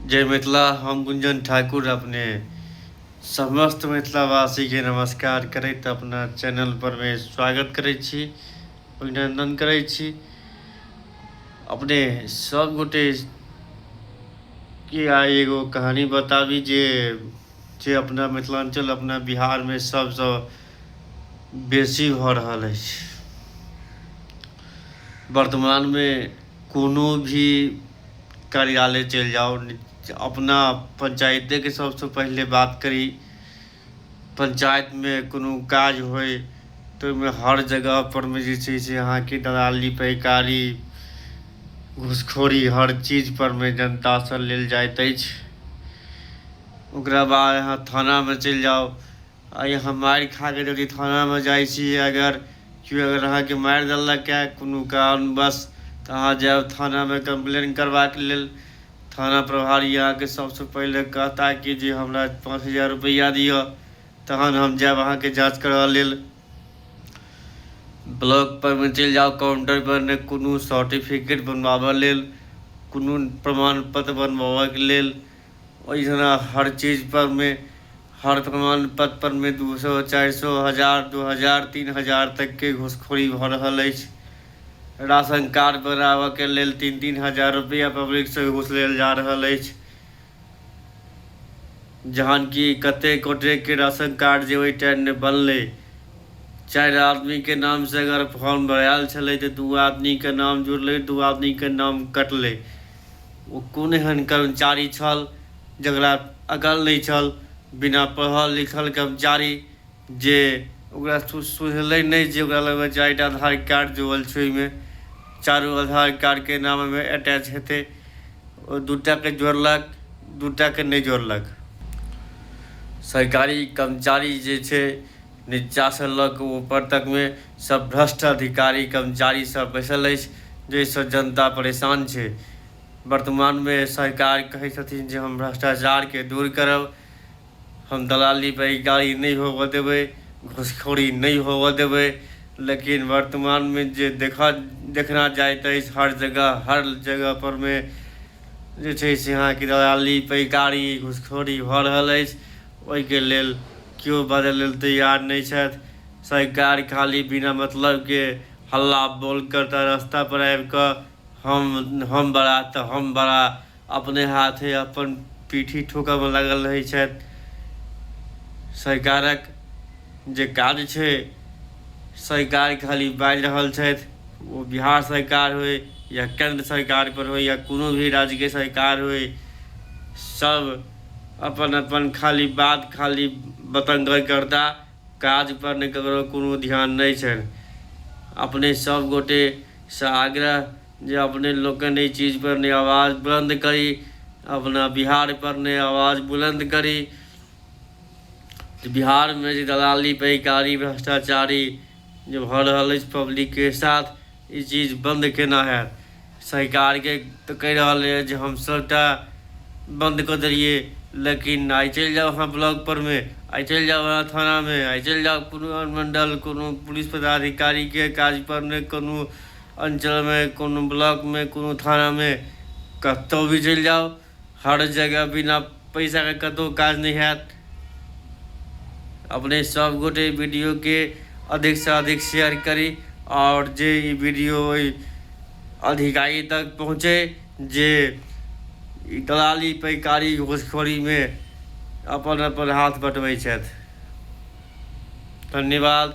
जय मिथिला हम गुंजन ठाकुर अपने समस्त मिथिलावासीके नमस्कार करैत अपना चैनल परमे स्वागत करै छी अभिनन्दन करै छी अपने सब गोटे के आइ एगो कहानी बताबी जे जे अपना मिथिलाञ्चल अपना बिहारमे सबसँ बेसी भऽ रहल अछि वर्तमानमे कोनो भी कार्यालय चलि जाउ अपना पञ्चायतेके सबसँ पहिले बात करी पञ्चायतमे कोनो काज होइ तऽ ओहिमे हर जगहपरमे जे छै से अहाँके दलाली पैकारी घुसखोरी हर चीजपरमे जनतासँ लेल जाइत अछि ओकरा बाद अहाँ थानामे चलि जाउ आइ अहाँ मारि खा कऽ जदि थानामे जाइत छी अगर केओ अगर अहाँकेँ मारि देलक ए कोनो कारणवश तऽ अहाँ जायब थानामे कम्प्लेन करबाक लेल। थाना प्रभारी अहाँकेँ सभसँ पहिले कहता कि जे हमरा पाँच हजार रुपैआ दिअ तखन हम जायब अहाँकेँ जाँच करय लेल। ब्लॉक पर मे चलि जाउ काउंटर पर ने कोनो सर्टिफिकेट बनबाबऽ लेल कोनो प्रमाण पत्र बनबाबऽ के लेल ओहि जेना हर चीज पर मे हर प्रमाण पत्र पर मे दू सए चारि सए हजार दू हजार तीन हजार तक के घुसखोरी भऽ रहल अछि राशन कार्ड बनाबऽ के लेल तीन तीन हजार रुपैआ पब्लिक से घुस लेल जा रहल अछि जहन कि कते गोटे के राशन कार्ड जे ओहि टाइम मे बनलै चारि आदमी के नाम से अगर फॉर्म भरायल छलै तऽ दू आदमी के नाम जुड़लै दू आदमी के नाम कटलै ओ कोन एहन कर्मचारी छल जकरा अकल नहि छल बिना पढ़ल लिखल कर्मचारी जे ओकरा सुझलै नहि जे ओकरा लगमे चारिटा आधार कार्ड जुड़ल छै ओहिमे चारू आधार कार्डके नाम ओहिमे अटैच हेतै ओ दू टाके जोड़लक दू टाके नहि जोड़लक सरकारी कर्मचारी जे छै नीचासँ लऽ कऽ ऊपर तकमे सभ भ्रष्ट अधिकारी कर्मचारी सभ बैसल अछि जाहिसँ जनता परेशान छै। वर्तमानमे सरकार कहैत छथिन जे हम भ्रष्टाचारकेँ दूर करब, हम दलाली बैगारी नहि होबऽ देबै, घूसखोरी नहि होबऽ देबै लेकिन वर्तमानमे जे देखा देखना जाइत अछि हर जगह हर जगह परमे जे छै से अहाँकेँ दलाली बैगारी घूसखोरी भऽ रहल अछि ओहिके लेल केओ बाजऽ लेल तैयार नहि छथि। सरकार खाली बिना मतलब के हल्ला बोल करता रास्ता पर आबि क हम हम बड़ा त हम बड़ा अपने हाथे अपन पीठी ठोकय मे लागल रहैत छथि। सरकारक जे काज छै सरकार खाली बाजि रहल छथि ओ बिहार सरकार होइ या केन्द्र सरकार पर होइ या कोनो भी राज्य के सरकार होइ सब अपन अपन खाली बात खाली बतंगड़ करता। काज पर ने ककरो कोनो ध्यान नहि छनि। अपने सभ गोटे सँ आग्रह जे अपने लोकनि एहि चीज पर ने आवाज बुलंद करी, अपना बिहार पर ने आवाज बुलंद करी जे बिहार मे जे दलाली, पैकारी, भ्रष्टाचारी जे भ रहल अछि पब्लिक के साथ ई चीज बन्द केना हैत सरकारके तऽ कहि रहल यऽ जे हम सभटा बन्द कऽ देलियै लेकिन आइ चलि जाउ अहाँ ब्लॉक परमे आइ चलि जाउ अहाँ थानामे आइ चलि जाउ कोनो अनुमंडल कोनो पुलिस पदाधिकारीके काज परमे कोनो अंचलमे कोनो ब्लॉकमे कोनो थानामे कतहु भी चलि जाउ हर जगह बिना पैसा के कतौ काज नहि हैत अपने सब गोटे वीडियो के अधिक से अधिक शेयर करी और जे ई वीडियो ओहि अधिकारी तक पहुंचे जे ई दलाली पैकारी घुसखोरी में अपन अपन हाथ बटबै छथि धन्यवाद